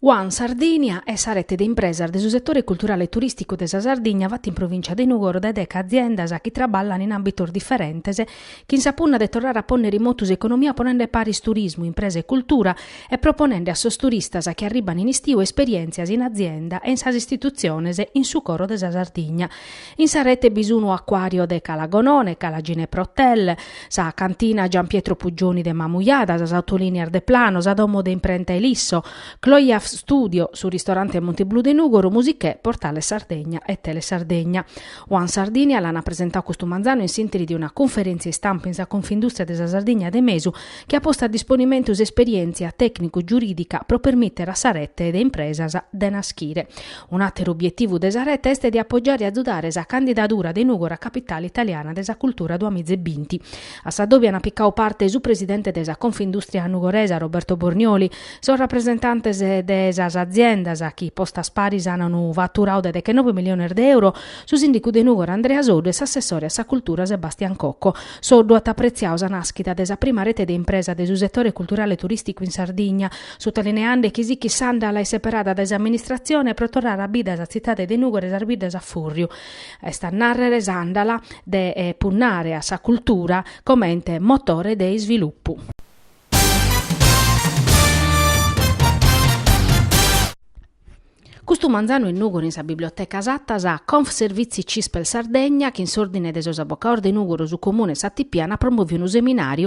One Sardinia est sa rete de impresas de su setore culturale e turìsticu de sa Sardigna fata in provìncia de Nùgoro dae deca aziendas chi traballan in àmbitos diferentes chin sa punna de torrare a pònnere in motu s'economia ponende paris turismu, impresa e cultura e proponende a sos turistas chi arribban in istiu esperièntzias in azienda e in sas istitutziones in su coro de sa Sardigna. In sa rete bi sunu acuario de Cala Gonone, Cala Ginepro Hotel, sa cantina Gian Pietro Puggioni de Mamujada, sas autolinias Deplano, sa domo de imprenta Ilisso, Cloyaf Studio, su ristorante Monti Blu de Nugoru, Musichè, Portale Sardegna e Tele Sardegna. One Sardinia l'ana presentau custu manzanu in s'interi de una cunferentzia istampa in sa Confindustria de sa Sardigna de Mesu, chi at postu a disponimentu s'esperièntzia tècnicu-giurìdica pro permìtere a sa rete de impresas de naschire. Un àteru obietivu de sa rete est de apogiare e azudare sa candidadura de Nùgoro a Capitale italiana de sa cultura duamìa e binti, a s'adòbiu ant picadu parte su presidente de sa Confindùstria nugoresa Roberto Bornioli, sos rapresentantes de sas aziendas chi postas paris an unu faturadu de dechenobe miliones de euro, su sìndicu de Nùgoro Andrea Soddu e s'assessore a sa cultura Sebastian Cocco. Soddu at apretziadu sa nàschida de sa prima rete de impresa de su setore culturale e turìsticu in Sardigna, sutalineende chi sichit s'àndala seperada dae s'amministratzione pro torrare a bida sa tzitade de Nùgoro e sas biddas a fùrriu, est a nàrrere s'àndala de punnare a sa cultura comente motore de isvilupu. Custu manzanu in Nùgoro in sa Biblioteca Satta sa Confservizi Cispel Sardegna chin s'Òrdine de sos Abocaos de Nùgoro su Comune e s'ATP ant promoviu unu seminàriu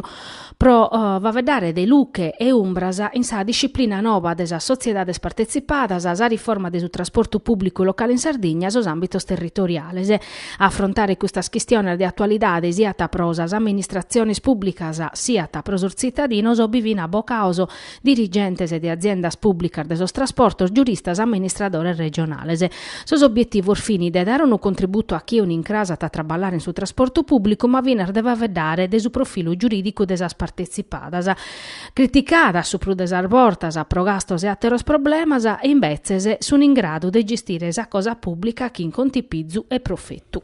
pro faeddare de luche e umbras in sa disciplina noba de sas sotziedades partetzipadas, sa riforma de su trasportu pùblicu locale in Sardigna e sos àmbitos territoriales. A afrontare custas chistiones de atualidade siat pro sas amministratziones pùblicas siat pro sos tzitadinos bi fin abocaos dirigentes de aziendas pùblicas de sos trasportos, giuristas, amministradores regionales. Sos obbietivos fin de dare unu contributu a chie un'incràs at a traballare in su trasportu pùblicu ma finas de faeddare de su profilu giurìdicu de sas partetzipadas, criticadas su prus de sas bortas pro gastos e àteros problemas, e imbetzes sun in gradu de gestire sa cosa pùblica chin contipizu e profetu.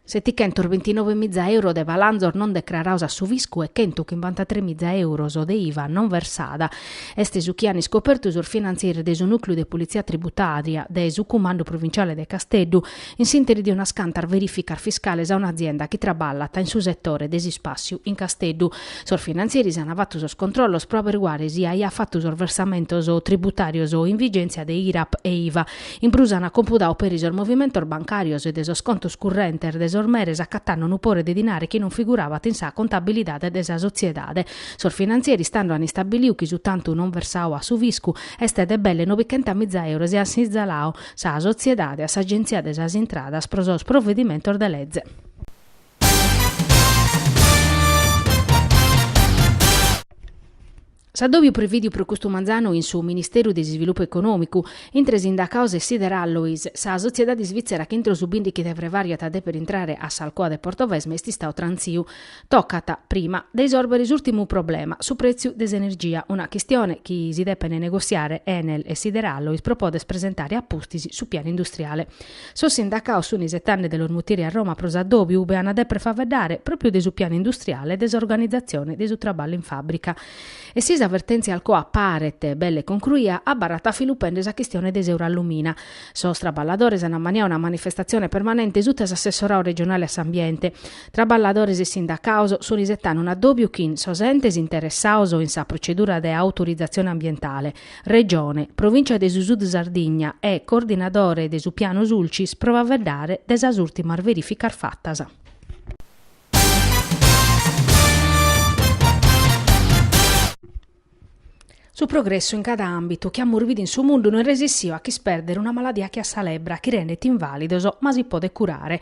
Setichentos bintinove miza euro de palanzos non decrarados a su fiscu e chentu chimbantatres miza euros de iva non versada est su chi an iscopertu sos finantzieris de su Nùcleu de Politzia Tributària de su Cumandu Provinciale de Casteddu in s'interi de unas cantas verìficas fiscales a un'azienda chi traballat in su setore de s'ispàciu in Casteddu. Sos finantzieris an fatu sos controllos pro aberiguare si aiat fatu sos versamentos tributàrios in vigèntzia de IRAP e iva. In prus an compudau peri sos movimentos bancàrios e de sos contos currentes de sos meres acatando unu pore de dinare chi non figurabat in sa contabilidade de sa sotziedade. Sos finantzieri istande an istabiliu chi su tantu non versau a su fiscu est de belle nobichentas miza euros e an sinzalau sa sotziedade a s'Agenzia de sas Intradas pro sos provedimentos de leze. S'addòbiu prevìdiu pro custu manzanu in su Ministeru de s'Isvilupu Econòmicu, intre sindacaos e Sideralloys, sa sotziedade isvìtzera chi intro su bìndighi de frevàriu at a dèpere intrare a s'Alcoa de Portovesme est istadu trantziu. Tocat, prima, de isòrbere s'ùrtimu problema, su prètziu de s'energia, una chistione chi si depent negossiare Enel e Sideralloys pro poder presentare a pustis su pianu industriale. Sos sindacaos sun isetande de los mutire a Roma pro s'addòbiu ube an a dèpere faeddare pròpiu de su pianu industriale e de s'organizatzione de su traballu in fàbrica. E si sa vertèntzia Alcoa paret belle concruia, abarrat a filu pende sa chistione de s'Eurallumina. Sos traballadores an ammaniau una manifestatzione permanente suta s'assessorau regionale a s'ambiente. Traballadores e sindacaos sun isetande un'addòbiu chin sos entes interessaos in sa procedura de autorizatzione ambientale. Regione, Provìncia de su Sud Sardigna e coordinadore de su Piano Sulcis pro faeddare de sas ùrtimas verìficas fatas. Su progressu in cada àmbitu chi amus bidu in su mundu no est resissiu a ch'ispèrdere una maladia che a sa lebbra chi rendet invàlidos ma si podet curare,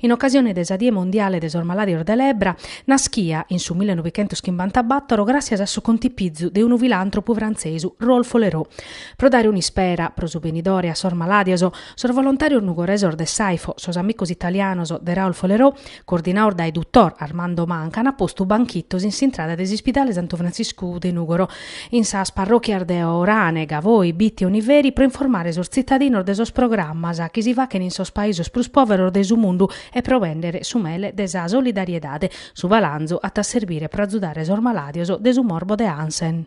In ocasione de sa Die Mondiale de sos Malàdios de Lebbra, naschia, in su millenovichentoschimbantabàtoro, gràssias a su contipizu de unu filàntropu frantzesu, Raoul Follereau. Pro dare un'ispera, pro su benidore, a sos malàdios, sos volontàrios nugoresos de s'Aifo, sos amicos italianos de Raoul Follereau, coordinaos dae dottor Armando Manca, an postu banchitos in s'intrada de s'Ispidale Santu Frantziscu de Nùgoro, in sas parròchias de Orane, Gavoi, Bitti e Oniveri pro informare sos tzitadinos de sos programmas chi si fachent in sos paisos prus pòveros de su mundu e pro bèndere su mele de sa solidariedade. Su balanzu at a serbire pro azudare sos malàdios de su morbo de Hansen.